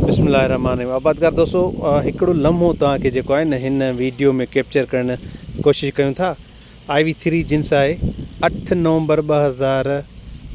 بسم الله الرحمٰن الرحيم آبادگار دوستو هڪڙو لمحو توهان کي جيڪو آهي نه هن ويڊيو ۾ ڪيپچر ڪرڻ ڪوشش ڪيون ٿا آئي وي ٿري جنس آهي اٺ نومبر ٻه هزار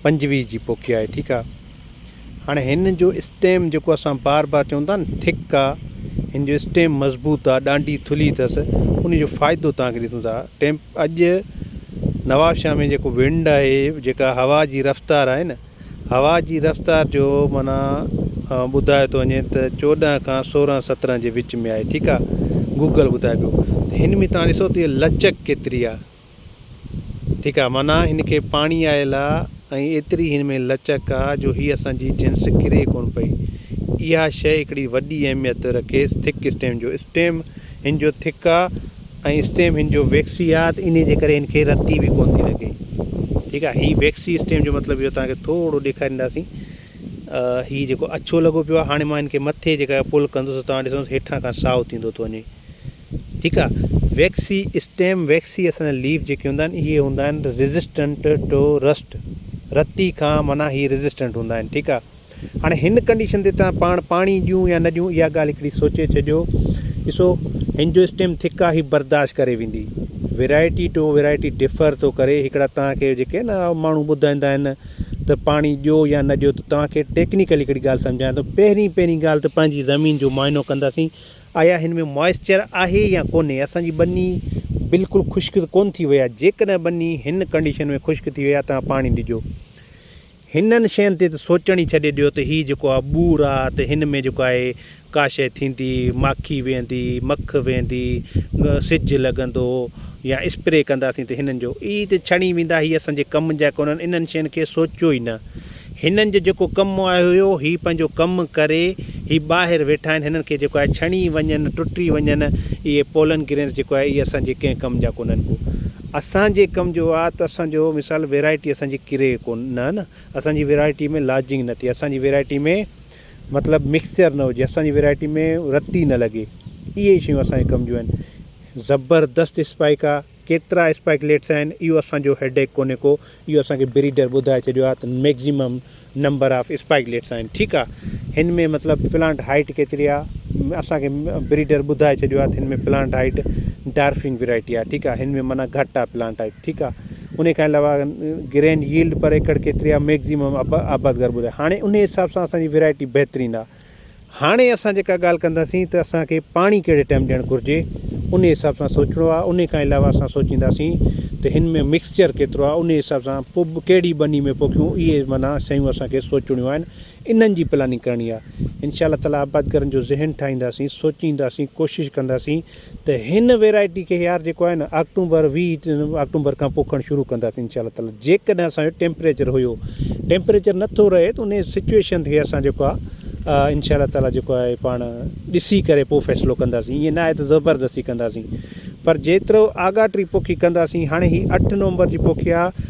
پنجويهه جي پوکي آهي ٺيڪ آهي هاڻي هن جو اسٽيم جيڪو اسان بار بار چون ٿا نه ٿڪ آهي هن جو اسٽيم مضبوط آهي ڏانڊي ٿلي اٿس ان جو فائدو توهان کي ڏسون ٿا ٽيم اڄ نواب شاهه ۾ جيڪو ونڊ آهي جيڪا هوا جي رفتار آهي نه هوا جي رفتار جو معنيٰ ٻڌايو ٿو وڃي ته چوڏهن کان سورهن سترهن جي وچ ۾ آهي ٺيڪ آهي گوگل ٻڌائي پيو ته هن ۾ توهان ڏسو ته لچڪ ڪيتري آهي ٺيڪ آهي معنيٰ هن کي پاڻي آيل آهي ۽ ايتري هن ۾ لچڪ آهي جو هي اسان جي جنس ڪري ڪونه پئي اها شيء هڪڙي وڏي اهميت رکيس ٿڪ اسٽيم جو اسٽيم هن جو ٿڪ آهي ۽ اسٽيم هن جو ويڪسي آ ته انهي جي ڪري هن کي رتي به ڪونه ٿي لڳي ٺيڪ آ هي ويڪسي اسٽيم جو مطلب اهو توهان کي ٿورو ڏيکارينداسين هي جيڪو اڇو لڳو پيو آ هاڻي مان هن کي مٿي جيڪا پل ڪندس ته توهان ڏسندس هيٺان کان سائو ٿيندو ٿو وڃي ٺيڪ آ ويڪسي اسٽيم ويڪسي اسان جا ليف جيڪي هوندا آهن اهي هوندا آهن ريزسٽنٽ ٽو رسٽ رتي کان معنيٰ هي ريزسٽنٽ هوندا آهن ٺيڪ آ هاڻي هن ڪنڊيشن تي توهان پاڻ پاڻي ڏيون يا نه ڏيون اها ڳالهه هڪڙي سوچي ڇڏيو. ڏسو انجوسٽيم ٿڪ آهي برداشت ڪري ويندي. ويرائٽي ٽو ويرائٽي ڊفر ٿو ڪري هڪڙا توهان کي جيڪي نه ماڻهو ٻڌائيندا آهن ته پاڻي ڏيو يا نه ڏيو ته توهان کي ٽيڪنيڪلي هڪڙي ڳالهه سمجهايان ٿو پهرين پهرين ڳالهه ته پنهنجي زمين جو معائنو ڪنداسين آيا هن ۾ موئسچر آهي يا ڪونهي اسان جي ٻني بلڪل خشڪ ته ڪونه ٿي وئي آهي جيڪڏهن ٻني هن ڪنڊيشن ۾ خشڪ ٿي وئي آهي توهان پاڻي ڏجو. هنن شين تي ته سوچڻ ئي ڇڏي ڏيو ته هي جيڪو آ ٻور آ ته هن ۾ جيڪو آهي ڪا شيء ٿيندي، ماکي ويهندي، مک ويهندي، سج لڳندو يا اسپري ڪنداسين ته هنن جو اي ته ڇڻي ويندا هي اسان جي ڪم جا ڪونهن انهن شين کي سوچيو ئي نه هنن جو جيڪو ڪم آهي هيو هي پنهنجو ڪم ڪري هي ٻاهر ويٺا آهن هنن کي جيڪو آهي ڇڻي وڃن ٽٽي وڃن اهي پولن گرينس جيڪو آهي اهي اسان جي ڪنهن ڪم جا ڪونهن ڪو اسان جي ڪم جو آ ته اسان جو مثال ويرائٽي اسان جي ڪري ڪون نه نه اسان جي ويرائٽي ۾ لارجنگ نه ٿئي اسان جي ويرائٽي ۾ مطلب مڪسچر نه هجي اسان جي ويرائٽي ۾ رتي نه لڳي اهي شيون اسان جي ڪم جون آهن زبردست اسپائڪ آ ڪيترا اسپائڪ ليٽس آهن اهو اسان جو هيڊ ايڪ ڪونهي ڪو اهو اسان کي بريڊر ٻڌائي ڇڏيو آ ته ميڪزيمم نمبر آف اسپائيڪليٽس آهن ٺيڪ آ هن ۾ مطلب پلانٽ هائيٽ ڪيتري آ اسان کي بريڊر ٻڌائي ڇڏيو آ ته هن ۾ پلانٽ هائيٽ ڊارفنگ ويرائٽي آ ٺيڪ آ هن ۾ معنيٰ گهٽ آ پلانٽ هائيٽ ٺيڪ آ انهي کان علاوه گرين ييلڊ پر ايڪڙ ڪيتري آ ميڪزيمم آبادگار ٻڌائي هاڻي انهي حساب سان اسان جي ويرائٽي بهترين آ هاڻي اسان جيڪا ڳالهه ڪنداسين ته اسان کي پاڻي ڪهڙي ٽائيم ڏيڻ گهرجي انهي حساب سان سوچڻو آهي انهي کان علاوه اسان سوچينداسين ته هن ۾ مڪسچر ڪيترو آهي انهي حساب سان پوء ڪهڙي ٻني ۾ پوکيون اهي معنيٰ شيون اسان کي سوچڻيون آهن انهن جي پلاننگ ڪرڻي آهي انشاء الله تعالٰي آبادگارن جو ذهن ٺاهينداسين سوچينداسين ڪوشش ڪنداسين ته هن ويرائٽي کي يار جيڪو آهي نه آڪٽومبر ويهه آڪٽومبر کان پوکڻ شروع ڪنداسين ان شاء الله تعالٰي جيڪڏهن اسان جو ٽيمپريچر هيو ٽيمپريچر نه ٿو رهي ته ان سچويشن کي اسان جيڪو آهي ان شاء الله تعالٰي جيڪو آهي پاڻ ڏسي ڪري پوء فيصلو ڪنداسين ائين نه آهي ته زبردستي ڪنداسين پر جيترو آڳاٽري پوکي ڪنداسين هاڻي هي اٺ نومبر جي پوکي آهي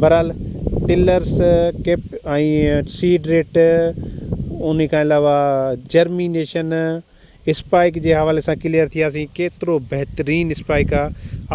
بھرحال ٽلرس ڪيپ ۽ سيڊ ريٽ انھي کان علاوه جرمينيشن اسپائڪ جي حوالي سان ڪليئر ٿياسين ڪيترو بھترين اسپائڪ آ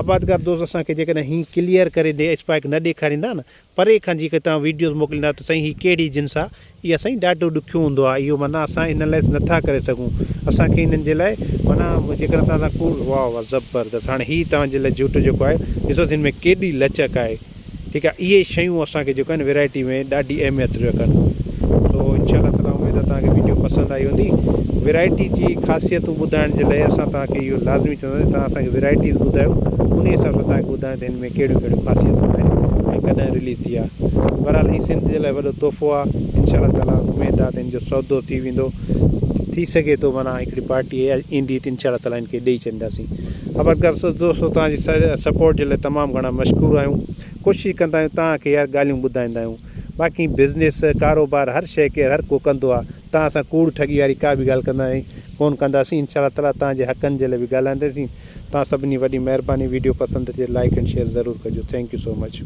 آبادگار دوست اسان کي جيڪڏھن ھي ڪليئر ڪري اسپائڪ نه ڏيکاريندا نه پري کان جيڪڏھن توھان ويڊيوز موڪليندا ته سائين ھي ڪھڙي جنس آ اهو سائين ڏاڍو ڏکيو هوندو آهي اهو معنيٰ اسان انالائز نه ٿا ڪري سگهون اسان کي انهن جي لاء معنيٰ جيڪڏهن توهان سان ڪوڙ واهه واهه زبردست هاڻي هي توهان جي لاء جهوٽ جيڪو آهي ڏسو هن ۾ ڪيڏي لچڪ آهي ٺيڪ آهي اهي شيون اسان کي جيڪو آهن ويرائٽي ۾ ڏاڍي اهميت ٿيون رکن سو انشاء الله تعالٰي اميد آهي توهان کي ويڊيو پسند آئي هوندي ويرائٽي جي خاصيتون ٻڌائڻ جي لاء اسان توهان کي اهو لازمي چونداسين توهان اسان کي ويرائٽيز ٻڌايو انهي حساب سان توهان کي ٻڌائڻ تي هن ۾ ۾ ڪهڙيون ڪهڙيون خاصيتون آهن ۽ ڪڏهن رليز ٿي آ بهرحال هي سنڌ جي لاء وڏو تحفو آ انشاء الله تعالي اميد آ ته ان جو سودو ٿي ويندو ٿي سگهي ٿو معنيٰ هڪڙي پارٽي ايندي ته انشاء الله تعالي ان کي ڏئي ڇڏينداسين خبردار سو دوستو توهان جي سپورٽ جي لاء تمام گهڻا مشڪور آهيون ڪوشش ڪندا آهيون توهان کي هر ڳالهيون ٻڌائيندا آهيون باقي بزنس ڪاروبار هر شيء کي هر ڪو ڪندو آ توهان سان ڪوڙ ٺڳي واري ڪا به ڳالهه ڪندا آهي ڪون ڪنداسين انشاء الله تعالي توهان جي حقن جي لاء به ڳالهائينداسين توهان سڀني وڏي مهرباني ويڊيو پسند اچي ته لائيڪ اينڊ شيئر ضرور ڪجو ٿينڪ يو سو مچ.